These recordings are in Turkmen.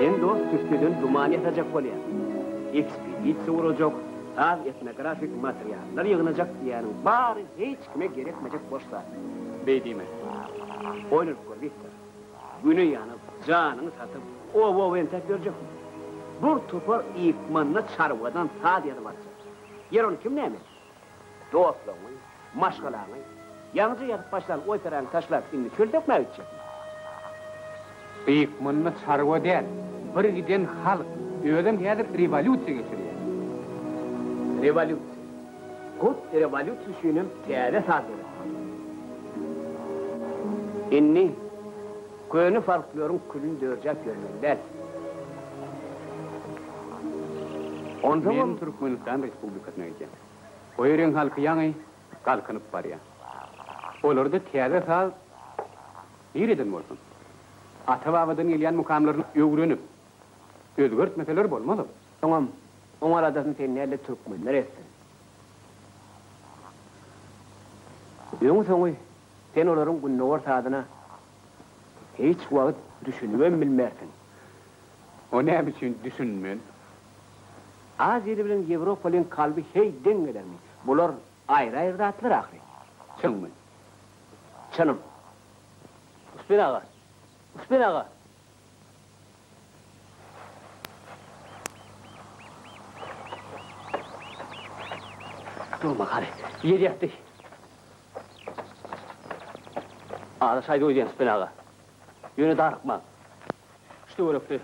Sen dos tüsseden duman ýasajak bolýaň. Ekspedisiýa gurajak, saz etnografik materiallar ýygnajak diýýäniň bary hiç kime gerekmejek boş zat. Beý diýme. Oýlanyp gör, Wiktor. Güni ýanyp, janyňy satyp, oba-oba entäp ýörjekmi? Bir topar ykmanda çarwadan saz ýazyp aljak. Ýer ony kim näme etsin? Dostlaryňy, maşgalaňy, ýaňyja ýazyp başlan operany taşlap, indi çöl sökmä gitjekmi? Gyýyk munny çarwa däl, bir giden halk, özem häzir rewolýusiýa geçirýär. Rewolýusiýa. Hut rewolýusiýa üçinem täze saz döretmeli. Indi. Göni folkloryn külün dörjäp ýörmeli däl. Onsoňam Türkmenistan Respublikasyna gidýän. O ýeriň halky ýaňy galkynyp barýa. Olarda täze saz nireden bolsun? Ata-babadan gelýän mukamlaryny öwrenip, özgertmeseler bolmaz-ow. Soňam, oň aladasyny seni nädli türkmenler etsin? Öňi-soňy Sen olaryň gündogar sazyna hiç wagt düşünibem bilmersiň. O näme üçin düşünmen? Aziýaly bilen ýewropalyň kalby heý deň gelermi? Bular aýry-aýry zatlar ahyry. Çynmy? Çynym. Uspen aga! Uspen aga! Durma Kary, ýer ýatdy. Aza şaýda öýdýän Sütben aga. Ýöne darykmaň. Şu töwerekde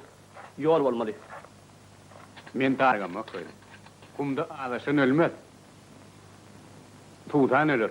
ýol bolmaly. Men dargamok öýdüp. Gumda azaşan ölmez. Tutan öler.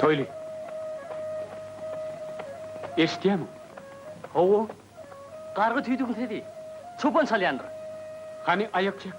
Toýly. Eşitýämiň? Hawa. Gargy tüýdügiň sesi. Çopan çalýandyr. Hany aýak çek.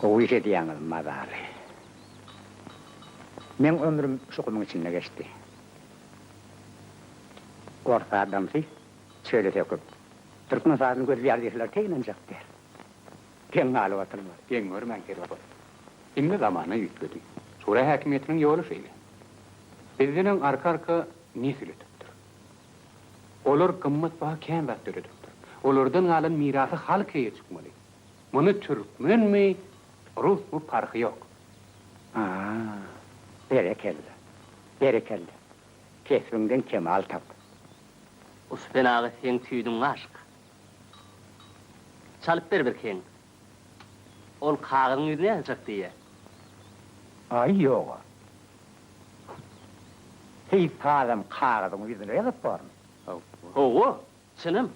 Gowy iş edýäňiz mazaly. Meň ömrüm şu gumuň içinde geçdi. Ors adamsy çöle söküp, türkmen sazyny gözleýär diýseler tek ynanjak däl. Geň galyp oturma, geň görmän herwe bol. Indi zamana üýtgedi. Şura häkimiýetiniň ýoly şeýle. Bizdenem arka-arka nesil ötüpdir. Olar gymmatbaha kän zat döredipdir. Olardan galan mirasy halk eýe çykmaly. Muny türkmenmi, rusmy parhy ýok. Haa, berekella, berekella. Kesbiňden kemal tap. Ussy ben aga seň tüýdüň aşyk. Çalyp ber birkigin. Ol kagyzyň ýüzüni ýazyjak diýýä. Aý, ýog-a. Seýis sazam kagyzyň ýüzüne ýazyp bormy? Hawa, çynam.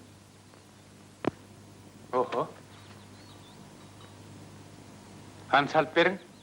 Oho. Hany çalyp beriň.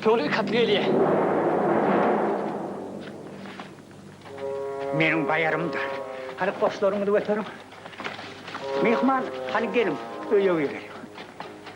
Tüpeňli üç atly gelýär. Meniň baýarymdyr. Hany goşlaryňyzy göteriň. Myhman, hany geliň, öýe gireýin.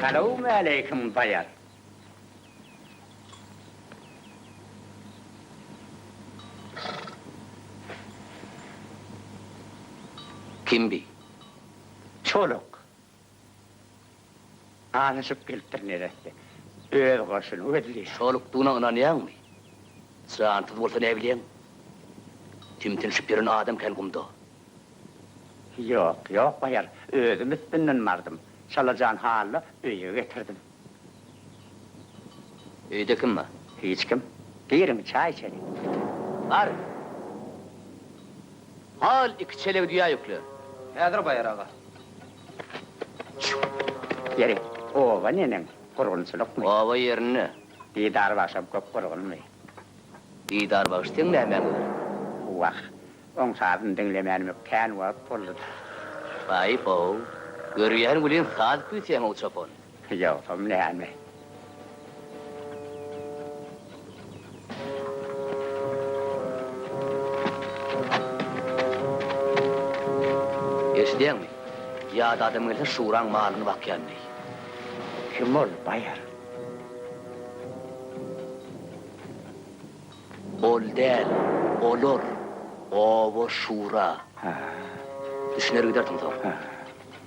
Salowmaleýkim Baýat. Kimdi? Çoluk. Azaşyp gelipdir neresse. Öz goşuny gözleýär. Şolukdygyna ynanýaňmy? Jansyz bolsa näbilýäň? Tümtünşip ýören adam kän gumda. Ýok, ýok baýar. Özüm üstünden bardym. Çalajan Hally öýe getirdim. Öýde kim bar? Hiç kim. Giriň, çaý içeli. Bar. Hal iki çelegi düýä ýükle. Häzir baýar, aga. Ýeri, oba neneň, gurgunçylykmy? Oba ýerinde. Didar bagşam köp gurgunmy? Didar bagşy seň nämäňe gerek? Wah, oň sazyny diňlemänime kän wagt boldy-da. Haýp-ow, görýän welin saz küýseýäň-ow çopan. Ýogsam näme? Eşidýäňmi? Ýat adam gelse Şuraň malyny bakýan diý. Kim ol baýar? Ol däl, olar. Oba Şura. Düşüner gidersiň soň.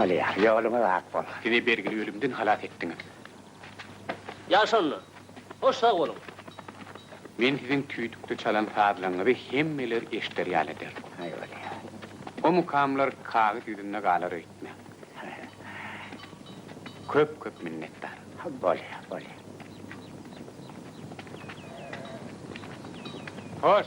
Bolýar. Ýoluňyz ak bolsun. Bizi bergili ölümden halas etdiňiz. Ýagşy onda. Hoş sag boluň. Men siziň tüýdükde çalan sazlaryňyzy hemmeler eşder ýaly ederin. Haý bolýa. O mukamlar kagyz ýüzünde galar öýtmäň. Köp köp minnetdar. Haý bolýa, bolýa. Hoş.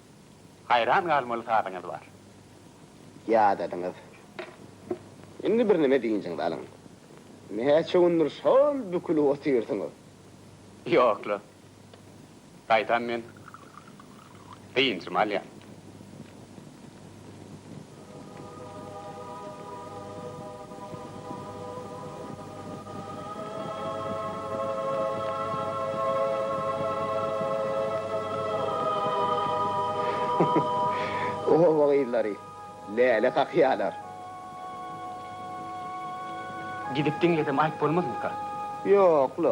Haýran galmaly zadyňyz bar. Ýadadyňyz. Indi birneme dynjyňyzy alyň. Näçe gündür şol bükülip otyrsyňyz? Ýok-la. Gaýtam men dynjymy alýan. Oba gyzlary läle kakýalar. Gidip diňlesem aýp bolmazmyka? Ýok-la.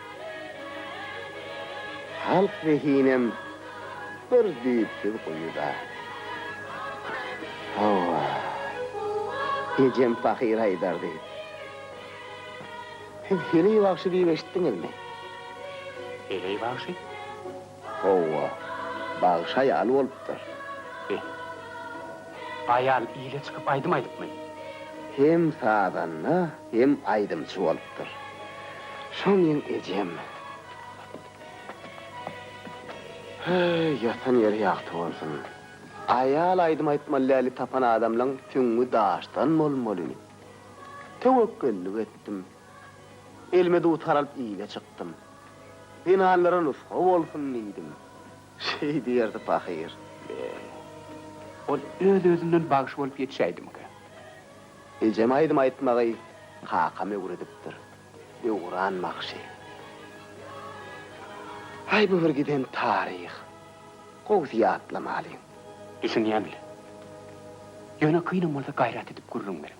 Halk zehinem bir düýpsüz guýuda. Hawa, ejem pahyr aýdardy. Siz heleý bagşy diýip eşitdiňizmi? Heleý bagşy? Howwa, bagşy aýaly bolupdyr. Be. Aýal ile çykyp aýdym aýdypmy? Hem sazanda, hem aýdymçy bolupdyr. Şoňyň ejem. Heý, ýatan ýeri ýagty bolsun. Aýal aýdym aýtmaly däli tapan adamlaň süňňi daşdan bolmaly. Töwekgellik etdim. Elime dutar alyp ile çykdym. Zenanlara nusga bolsun diýdim. Şeý diýerdi pahyr. Eý, ol öz-özümden bagşy bolup ýetişäýdimkä? Ejem aýdym aýtmagy kakam öwredipdir. Döwran bagşy. Aý, bu bir giden taryh. Gowsy ýatlamalyň. Düşünýän-le. Ýöne kynam bolsa gaýrat edip gürrüň beriň.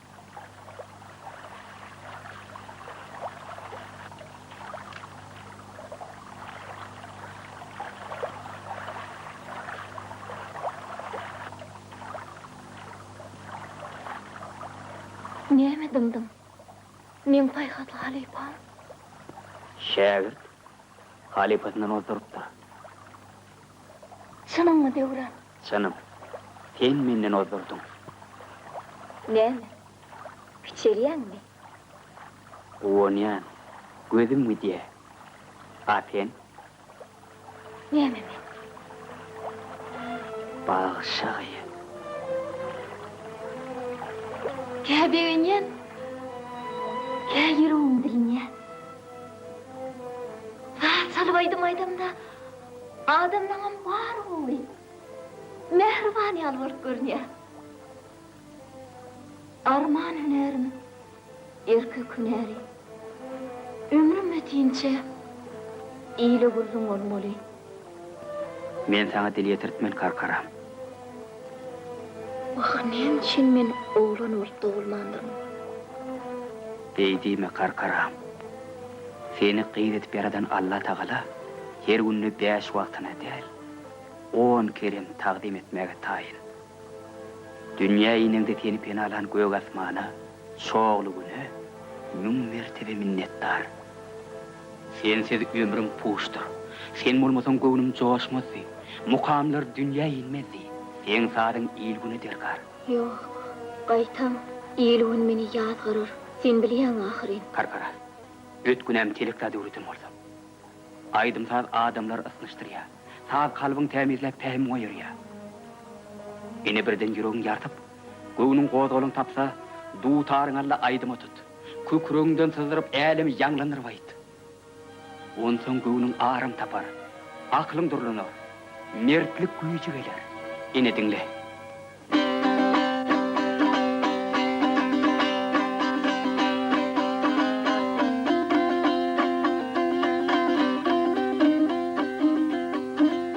Näme dymdyň? Meň paýhasly halypam? Şägirt halypasyndan ozdurypdyr. Çynyňmy, Döwran? Janym, sen menden ozdurdyň. Näme, kiçelýäňmi? Guwanýan, gözüm gidýä. A sen? Näme men? Bagşa gyz. Kä begenýän, kä ýüregim dilinýä. Zat salyp aýdym aýdamda, Adamlaňam bar gowy. Mähriban ýaly bolup görünýär. Arman hünärim, erkek hünäri. Ömrüm ýetinçe ile gürrüň bolmaly. Men saňa dil ýetirtmen karkaram. Wah, näme üçin men oglan bolup dogulmandyryn? Beý diýme, garkaram. Seni gyz edip ýaradan Allatagala her günde bäş wagtyna däl, on kerem tagzym etmäge taýyn. Dünýä inende seni penalan gök asmana, Çogly-Güne müň mertebe minnetdar. Sensiz ömrüm puşdyr. Sen bolmasaň göwnüm joşmazdy. Mukamlar dünýä inmezdi. Seň sazyň il-güne derkar. Ýok, gaýtam, il-gün meni ýazgarar. Sen bilýäň ahyryn. Karkara. Öt günäm telekda döwletin bolsa. Aýdym-saz adamlary ysnyşdyrýar. Saz kalbyň tämizläp pähim goýarýar. Ene birden ýüregiň ýartyp. Göwnüň gozgalaň tapsa, dutaryňy al-da aýdyma tut. Kükregiňden syzdyryp älemi ýaňlandyryp aýt. Onsoň göwnüň aram tapar, aklyň durlanar, mertlik güýji geler. Ine diňle.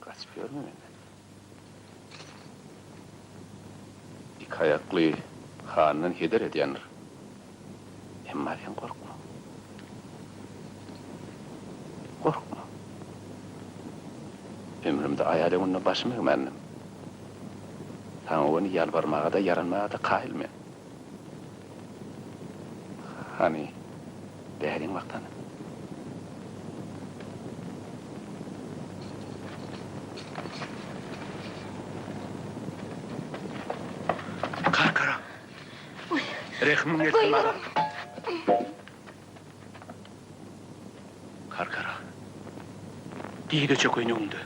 Gaçyp ýörme menden. Iki aýakly handan heder edýändir. Emma sen gorkma. Gorkma. Ömrümde aýal öňünde başym egmändim. Saňa göni ýalbarmaga-da, ýaranmaga-da kaýyl men. Hany, bäriň wagtany. Karkara! Rehimiň gelsin, maga! Gargara. Diýdeçe köýnegiňde.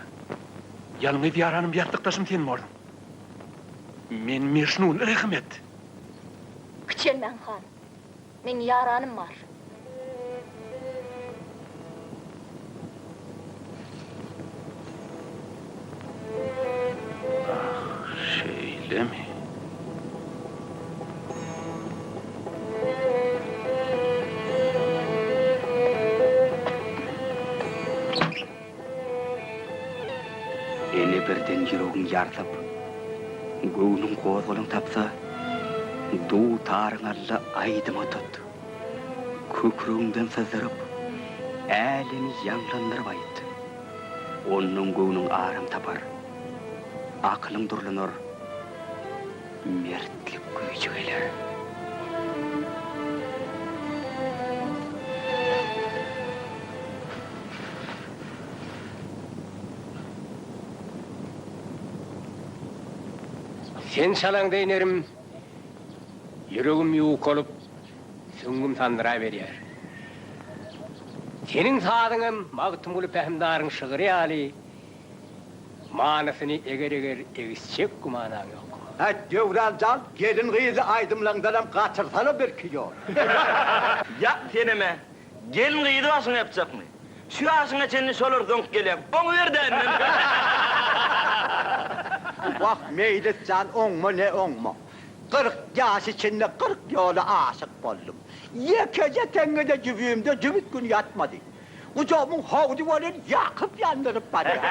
Ýalňyz ýaranym ýassykdaşym sen borduň. Men Mejnun, rehim et! Kiçelmäň han. Meň ýaranym bar. Şeýlemi? Ene birden ýüregiň ýarsyp, göwnüň gozgalaň tapsa, duw-taryň alla aýdyma tut. Kükregiňden syzdyryp, älemi ýaňlandyryp aýt. Ondan göwnüň aram tapar, akylyň durlanar, mertlik güýji geler. Sen çalaňda inerim. Ýüregim ýuwkalyp, süňňüm sandyraberýär. Seniň sazyň hem Magtymguly Pähimdaryň şygry ýaly manysyny eger-eger egisjek gümanaň ýok. Häýt, Döwran jan, gelin-gyzly aýdymlaryňdanam gatyrsana birki ýol. Ýa, senem-ä. Gelin-gyzy başyňa ýapjakmy? Şu ýaşyňa çenli şolar zoňk gelýäň. Oňuber dänden. Wah, Meýlis jan, oňma, ne oňma. Kyrk ýaşy çenli kyrk ýola aşyk boldum. Ýekeje teňňe-de jübimde jübüt gün ýatmady. Gujagymyň howdy welin ýakyp ýandyryp barýar.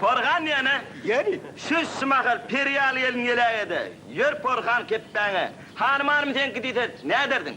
Porhan ýene. Ýeri. Şu şu mahal peri ýaly gelin geläýe-de, ýör Porhan kepbäňe. Hanym-hanym seňki diýse, nädersiň?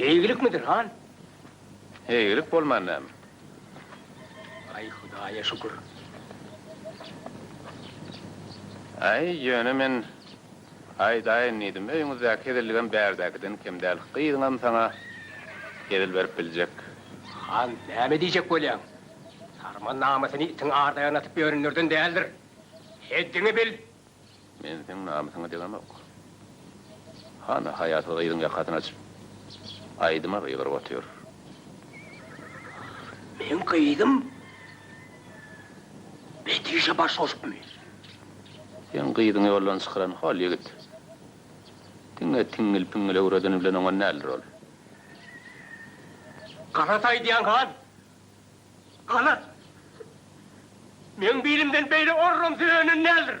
Eýgilikmidir, han? Eýgilik bolman näme? Aý, Hudaýa şükür. Aý, ýöne men aýdaýyn diýdim. Öýüňizdäki hezilligem bärdäkiden kem däl. Gyzyňam saňa hezil berip biljek. Han, näme diýjek bolýaň? Saryman namysyny itiň ardaýagyna atyp ýörenlerden däldir. Heddiňi bil! Men seň namysyňa degemok. Hana, haýasyz gyzyň ýakasyny açyp, aýdyma gygyryp otyr. Meň gyzym Betişe baş goşupmy? Seň gyzyňy ýoldan çykaran hol ýigit. Diňe tiňňil-piňňil öwredeni bilen oňan däldir ol. Galat aýdýaň, han. Ana, meň bilimden beýle orram söýenin däldir.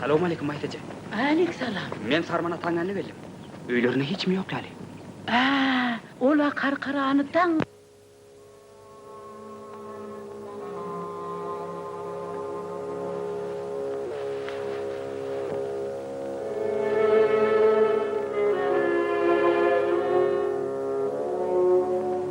Salowmaleýkim, Maýsaje. Aleksalam. Men Sarman ataň ýanyna geldim. Öýlerinde hiç kim ýok ýaly. Ä, ol-a karkarany daň.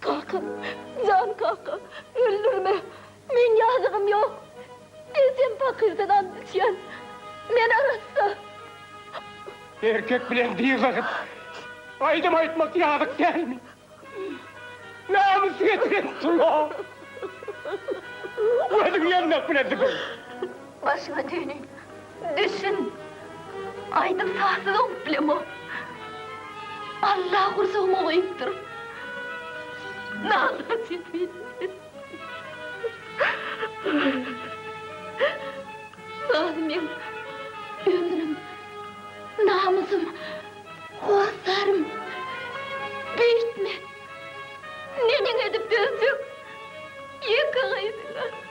Kaka, jan kaka, öldürme! Meň ýazygym ýok. Ejem pakyrdan and içýän. Men arassa. Erkek bilen dyzaşyp, aýdym aýtmak ýazyk dälmi? Namys getiren tulla! Gözüň ýandak bilen süpür! Başyňa düýni düşün. Aýdym sazsyz oňup bilemok. Alla gursagyma goýupdyr. Nalda sesi. Saz meň ömrüm, namysym, hossarym. Beýtme. Neneň edip dözjek ýeke gyzyňa.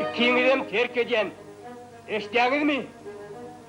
Ikiňizem terk edýän. Eşitýäňizmi?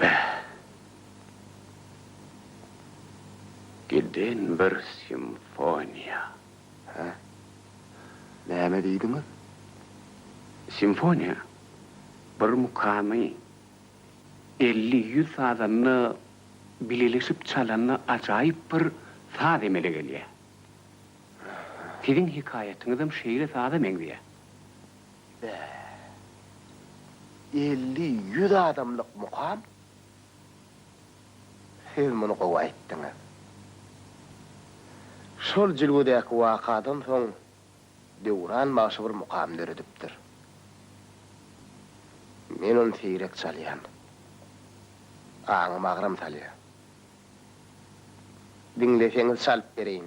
Bäh. Giden bir simfoniýa. Hä? Näme diýdiňiz? Simfoniýa, bir mukamy elli-ýüz sazanda bileleşip çalanda ajaýyp bir saz emele gelýär. Siziň hikaýatyňyzam şeýle saza meňzeýär. Bä. Elli, ýüz adamlyk mukam. Siz muny gowy aýtdyňyz. Şol jülgedäki wakadan soň Döwran bagşy bir mukam döredipdir. Men ony seýrek çalýan. Aňym agram salýar. Diňleseňiz çalyp bereýin.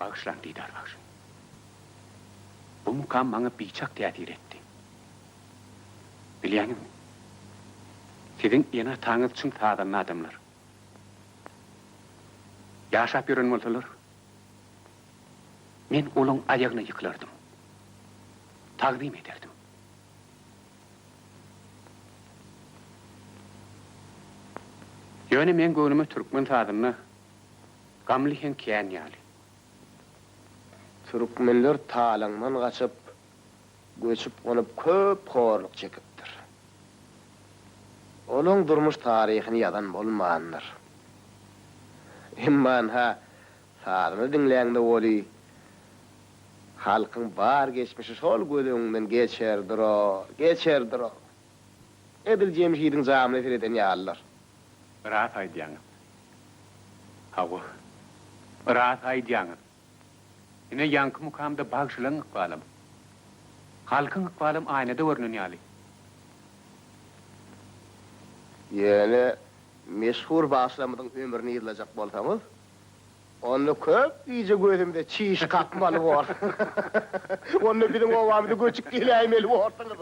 Bagyşlaň, Didar bagşy. Bu mukam maňa biçak täsir etdi. Bilýäňizmi? Siziň ene-ataňyz çyn sazanda adamlar. Ýaşap ýören bolsalar, men olaň aýagyna ýykylardym. Tagzym ederdim. Ýöne meň göwnüme türkmen sazynda Gamly hem kän ýaly. Türkmenler talaňdan gaçyp, göçüp-gonup köp horluk çekipdir. Olaň durmuş taryhyny ýazan bolmandyr. Emma ynha, sazyny diňläňde weli, halkyň bar geçmişi şol göz öňüňden geçer durur, geçer durur. Edil Jemşidiň jamyna sereden ýalydyr. Ras aýdýaňyz. Hawa. Ras aýdýaňyz. Ine ýaňky mukamda bagşylaň ykbalam. Halkyň ykbalam aýnada görnen ýaly. Ýöne meşhur bagşylarymyzyň ömrüni yzlajak bolsaňyz, Onda köp gije gözümde çiş kakmaly bor. Onda biziň obamyza göçüp geläýmeli borsuňyz.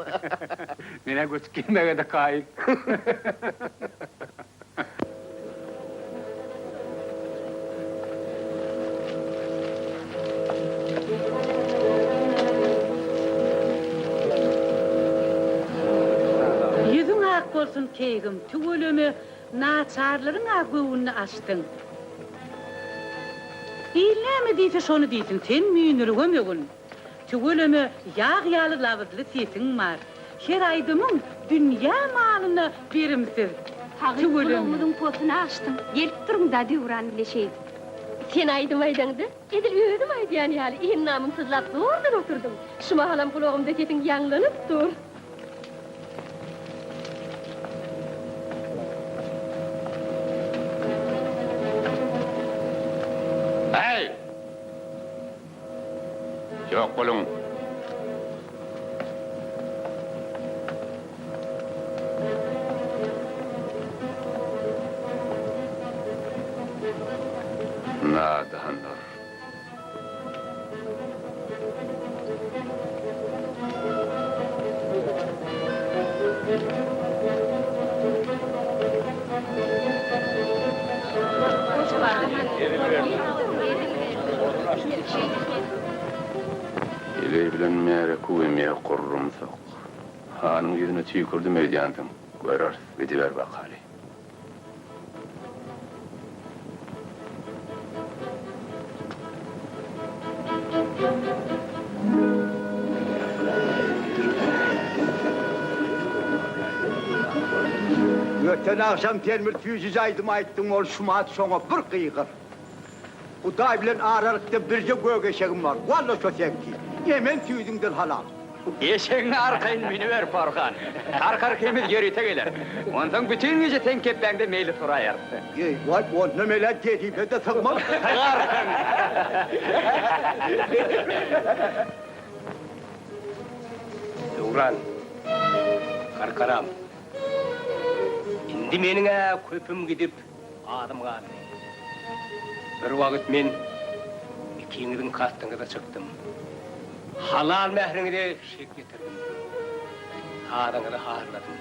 Men-ä göçüp gelmegede kaýyl. Ýüzüň ak bolsun keýgim, tüweleme, Naçarlaryň-a göwnüni açdyň. Il näme diýse şony diýsin, sen müýnürigem ögün. Tüweleme ýag ýaly labyzly sesiň bar. Her aýdymyň dünýä malyna berimsiz. Hagyt gulagymyzyň posuna açdyň. Gelip durun-da döwran bile şeýdip. Sen aýdym aýdaňda. Edil özüm aýdýan ýaly iňňamyňsyzlap zordan oturdym. Şu mahalam gulagymda sesiň ýaňlanyp dur. Häý! Ýok boluň! Nadanlar. Eleý bilen märeke we mew gurrumsak. Hanyň ýüzüne tüýkürdim öýdýänsiň, göreris, gidiber bakaly. Öten agşam sen bir süýji jaýdym aýtdyň, ol şumat şoňa bir gygyr. Hudaý bilen aralykda birje gök eşegim bar. Walla şo seňki. Emen süýdüňden halal. Eşegiňi arkaýyn miniber, Porhan. Tarkar hemiz ýörite geler. Onsoň bütin gije seň kepbäňde meýlis guraýarys. Eý-waý, ondan belä jezibede sygmaz. Sygarsyň! Döwran, Tarkaram, indi meniň-ä köpüm gidip, Adym Gazym. Bir wagt men ikiňiziň kastyňyza çykdym. Halal mähriňize şek ýetirdim. Sazyňyzy harladym.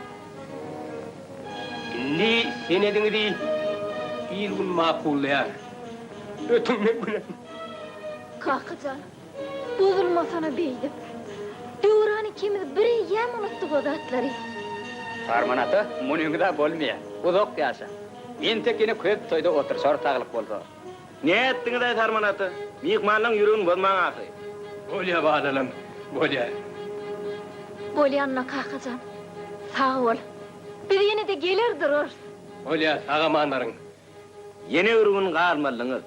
Indi senediňizi il-gün makullaýar. Ötüň men günem. Kaka jan! Bozulmasana beýdip. Döwran ikimiz bir eýýäm unutdyk o zatlary. Sarman ata, munyňyz-a bolmaýar. Uzak ýaşa. Entek ýene köp toýda oturyşarys saglyk bolsa. Nätdiňiz-aý Sarman ata? Myhmanlaň ýüregini bozmaň ahyry. Bolýar balalarym, bolýar. Bolýanyna kakajan. Sag bol. Biz ýene-de geler durarys. Bolýar, sag-aman baryň. Ýene bir gün galmalyňyz.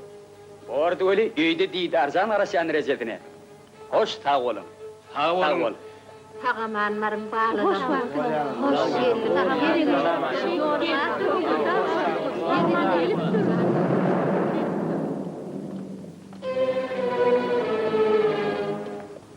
Bordy weli öýde didarjan garaşýan rejesine. Hoş sag boluň. Sag boluň. Sagamanmaryn balalarym.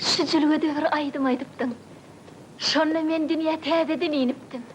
Şu jülgede bir aýdym aýdypdyň. Şonda men dünýä täzeden inipdim.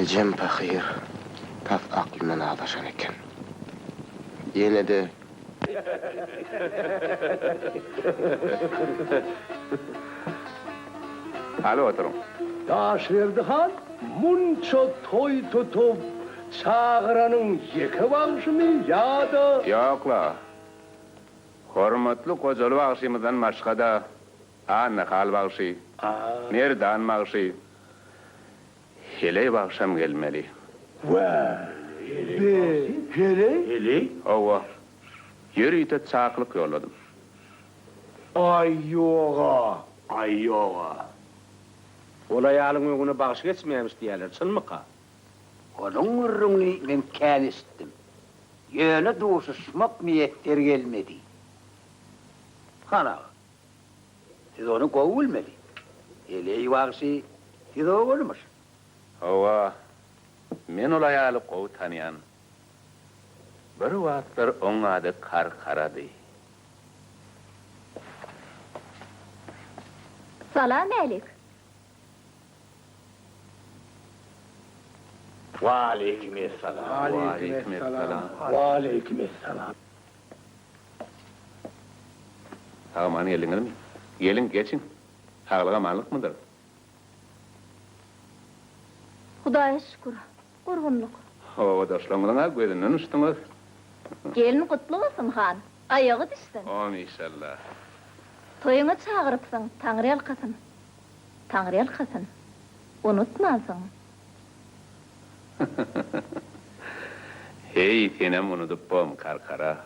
Ejem pahyr tas aklyndan azaşan eken. Ýene-de. Hany oturyň. Daşberdi han munça toý tutup çagyranyň ýeke bagşymy ýa-da. Ýok-la. Hormatly Gojaly bagşymyzdan başga-da Annahal bagşy, Merdan bagşy, Heleý bagşam gelmeli. Wä, be, Heleý? Hawa, ýörite çakylyk ýolladym. Aý, ýog-a. Aý, ýog-a. Ol aýalyň öňüne bagşy geçmeýämiş diýýärler, çynmyka? Onuň gürrüňini men kän eşitdim. Ýöne duşuşmak miýesser gelmedi. Hana, Siz ony gowy bilmeli. Heleý wagşy siz ogulymyş. Hawa, men ol aýaly gowy tanýan. Bir wagtlar oň ady Karkarady. Salam älik. Waleýkim essalam. Waleýkim essalam. Waleýkim essalam. Sag-aman geldiňizmi? Geliň, geçiň. Saglyk-amanlykmydyr? Hudaýa şükür, gurgunlyk. Obadaşlaryňyzyň-a gözünden uçduňyz. Gelin gutly bolsun, han. Aýagy düşsün. Amin, işalla. Toýuňa çagyrypsyň, Taňryýalkasyn. Taňryýalkasyn. Unutmansyň. Heý, senem unudypbom, Karkara.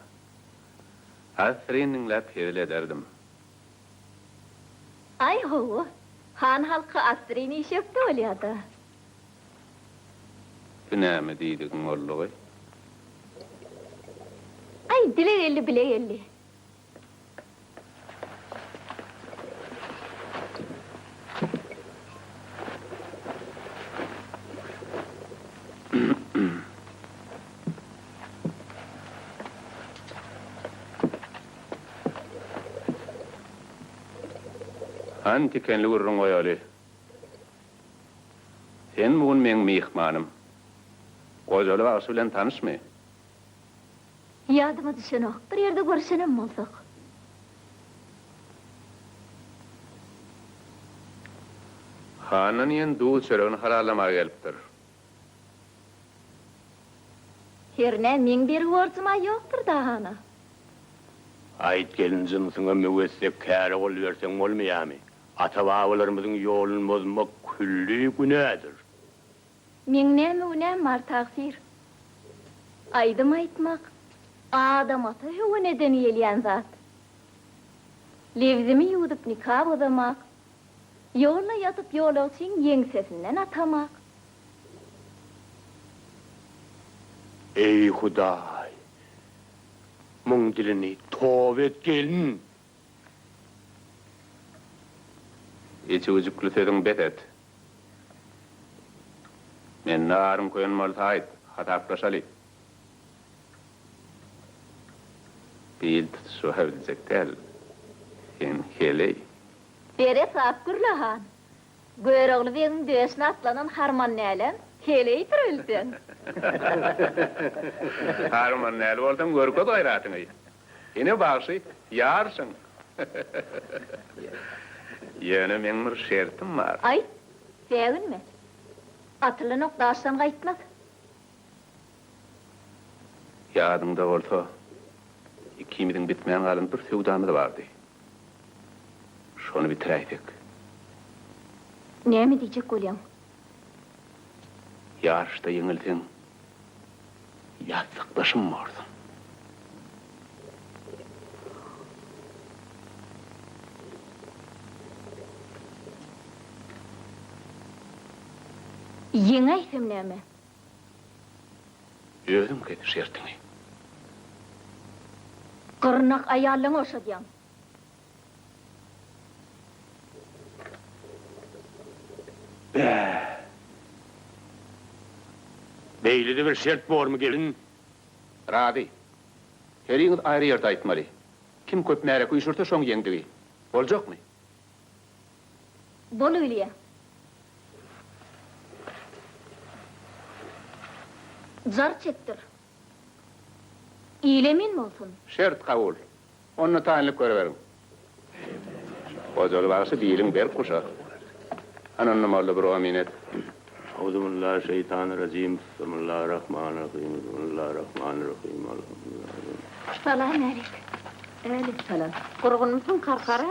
Assyryn diňläp hezil ederdim. Aý, hawa. Han halky assyryn işekde bolýa-da. Bu näme diýdigiň boldugy? Aý, bile geldi, bile geldi. Hany tikenli gürrüň goýaly. Sen bu gün meň myhmanym. Gojaly bagşy bilen tanyşmy? Ýadyma düşenok, bir ýerde görüşenem bolsak. Handan ýen duz çöregini halalamaga gelipdir. Hernä, meň bergi borjum-a ýokdur da, hana. Aýt, gelin jynsyňa möwessek käre gol berseň bolmaýamy? Ata-babalarymyzyň ýolun bozmak külli günädir. Meň näme günäm bar tagsyr. Aýdym aýtmak adamata höwen eden gelýän zat. Lebzimi ýuwdup nika bozamak, ýolda ýatyp ýolagçyň ýeňsesinden atamak. Eý Hudaý! Muň dilini toba et gelin! Içi üjükli sözüň bes et. Mende aryň köýen bolsa aýt, hasaplaşaly. Bir ýyl tutuşyp ha biljek däl sen heleý. Dere sap gür Lahan. Görogly begiň döşüne atlanan harman näleň, heleýdir öl sen. Harman näl bolsaň görkez gaýratyňy. Ine bagşy, ýarşyň! Ýöne meň bir şertim bar. Aýt, säginme. Atylan ok daşdan gaýtmaz. Ýadyňda bolsa, ikimiziň bitmän galan bir söwdamyz bardy. Şony bitiräýsek. Näme diýjek bolýaň? Ýaryşda ýeňilseň, ýassykdaşym borsuň. Ýeňäýsem näme? Özüň kes şertiňi. Gyrnak aýallaňy oşadýaň. Bä! Beýlede bir şert bormy, gelin? Razy. Heriňiz aýry ýerde aýtmaly. Kim köp märek üýşürse, şoň ýeňdigi. Boljakmy? Bolulyýa. Jar çekdir. Ile men bolsun. Şert kabul. Onda taýynlyk görüberiň. Hojaly bagşy biliň berk guşa. Hany onda molla bir omyn et. Auzubillah şeytan rajim Bismillah Rahman Rahim Bismillah Rahman Rahim Alhamdulillah Salam alik. Alik salam. Gurgunmysyň karkara?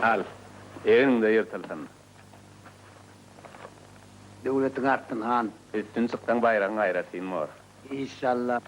Al, egniňde ýyrtylsyn. Döwletiň artsyn, han! Üstün çyksaň, baýragyň aýrar, Sinmor! Işşalla!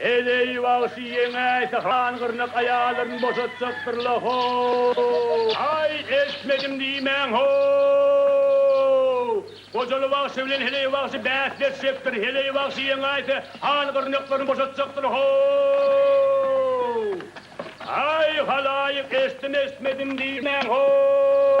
Heleý bagşy ýeňäýse han gyrnak aýallaryny boşatjakdyr-la ho-o-o! Aý, eşitmedim diýmäň ho-o-o! Gojaly bagşy bilen Heleý bagşy bäsleşjekdir. Heleý bagşy ýeňäýse han gyrnaklaryny boşatjakdyr ho-o-o! Aý, halaýyk, eşitdim-eşitmedim diýmäň ho-o-o!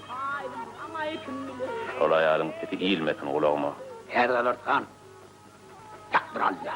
Şol aýalyň sesi ilmesin gulagyma. Häzir alarsan, ýak bir Alla.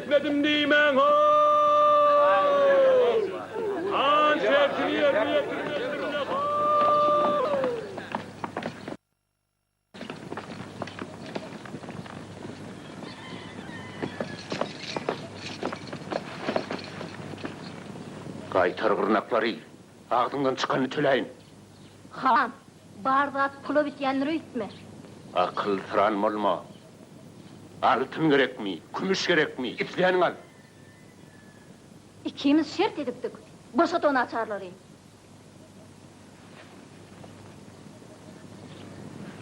Etmedim diýmäň Howw! Gaýtar gyrnaklary! Agzyňdan çykanyny töläýin! Han, bar zat pula bitýändir öýtme. Akylsyran bolma! Altyn gerekmi, kümüş gerekmi, isleniňi al! Ikimiz şert edipdik, boşat o naçarlary!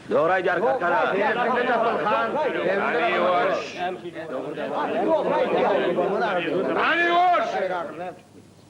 Dogry aýdar kakara. Hany ýuwaş. Hany ýuwaş.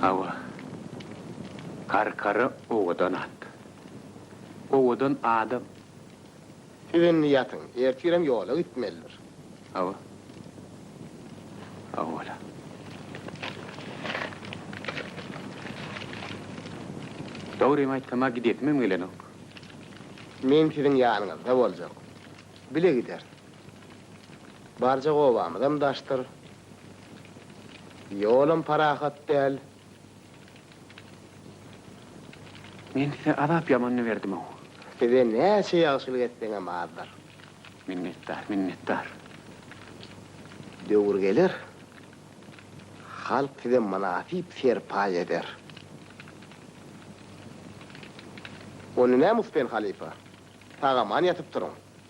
Hawa, Karkara owadan at. Owadan adam. Siz indi ýatyň. Ertirem ýola gitmelidir. Hawa. Hawa wala. Dogrymy aýtsam-a gidesimem gelenok. Men siziň ýanyňyzda boljak. Bile gideris. Barjak obamyzam daşdyr. Ýolam parahat däl. Men size azap ýamanyny berdim-ow. Size näçe ýagşylyk etseňem azdyr. Minnetdar, minnetdar. Döwür geler, halk size mynasyp serpaý eder. Onda näme Uspen halypa? Sag-aman ýatyp turuň.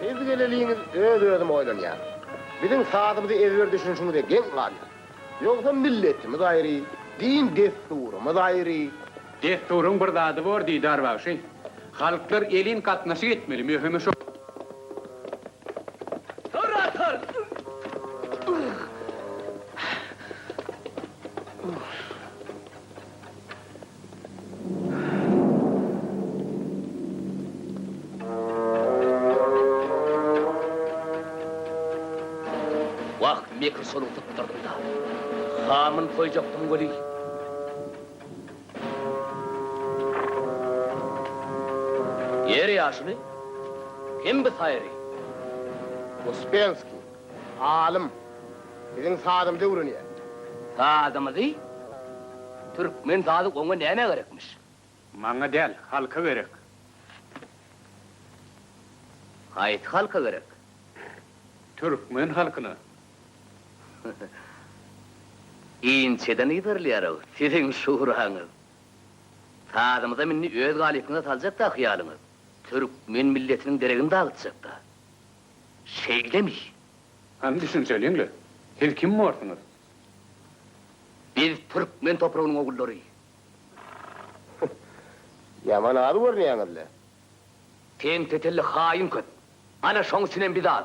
Siz geleliňiz öz-özüm oýlanýaryn. Biziň sazymyzy ezber düşünişiňize geň galýar. Ýogsam milletimiz aýry, din-dessurymyz aýry. Dessuryň bir zady bor, Didar bagşy. Halklar elin gatnaşyk etmeli, möhümi şo. Orator! Wah, mekir şonuň sypdyrdyň-da. Hamyn toýjakdyň weli. Ýer ýaşuly hem bi saýry. Uspenskiý, alym, biziň sazymyzy öwrenýär. Sazymyzy? Türkmen sazy oňa nämä gerekmiş? Maňa däl, halka gerek. Haýsy halka gerek? Türkmen halkyna. Inçeden yzarylýar-ow siziň şuraňyz. Sazymyzam indi öz galypyna saljak-da ahyýalyňyz. Türkmen milletiniň deregini dagytjak-da. Şeýlemi? Hany düşünseliň-le, siz kim borsuňyz? Biz türkmen topragynyň ogullary. Ýaman az görünýäňiz-le. Sen tetelli haýyn köp. Ana şoň üçinem biz az.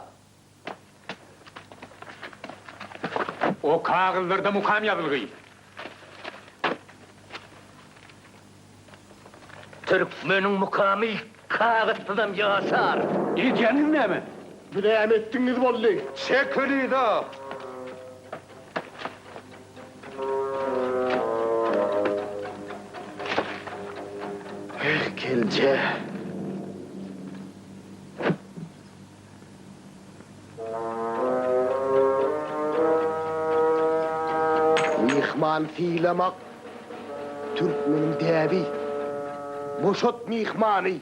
O kagyzlarda mukam ýazylgy. Türkmeniň mukamy kagyzsyzam ýaşar. Edýäniňiz näme? Biz näme etdigiňiz boldy? Çek Hülido! Gelje! Myhman sylamak, türkmeniň däbi. Boşat myhmany.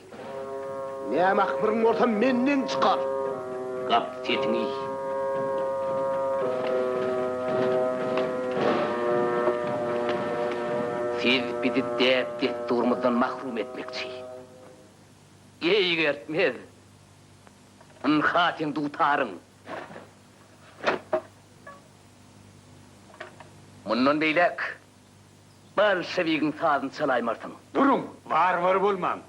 Näme ahmyryň bolsa menden çykar. Gap sesiňi. Siz bizi däp-dessurymyzdan mahrum etmekçi. Eýgertmez. Ynha, seň dutaryň! Mundan beýläk bolşewigiň sazyny çalaýmarsyň! Duruň! Warwar bolmaň!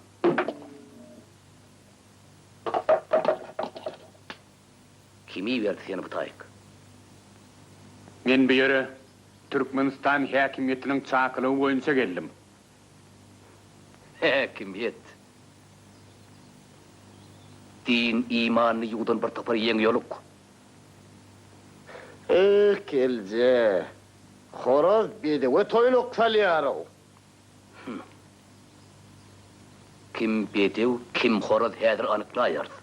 Kim iberdi seni bu taýyk? Men bu ýere Türkmenistan häkimiýetiniň çakylygy boýunça geldim. Häkimiýet, din, imanyny ýuwdan bir topar ýeň ýoluk. Eýh, gelje, horaz bedewe toýluk salýar-ow! Hum. Kim bedew, kim horaz häzir anyklaýarys.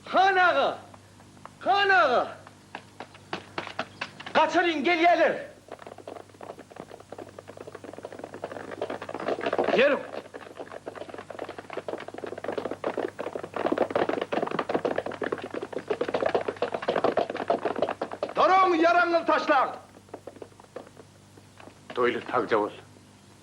Han aga! Han aga! Gaçalyň, gelýäler! Ýörüň! Duruň, ýaragyňyzy taşlaň! Toýly sagja bol!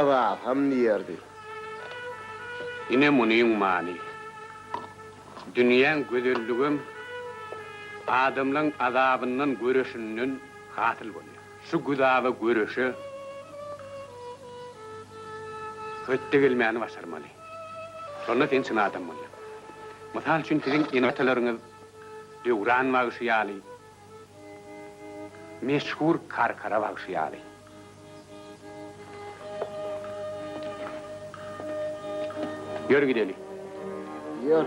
Yzasam diýerdi. Ine munyň many. Dünýäň gözelligem adamlaň azabyndan göreşinden hasyl bolýar. Şu güzaba göreşe hötde gelmäni başarmaly. Şonda sen çyn adam bolýaň. Mysal üçin siziň ene-atalaryňyz Döwran bagşy ýaly. Meşhur Karkara bagşy ýaly. Ýör gideli. Ýör.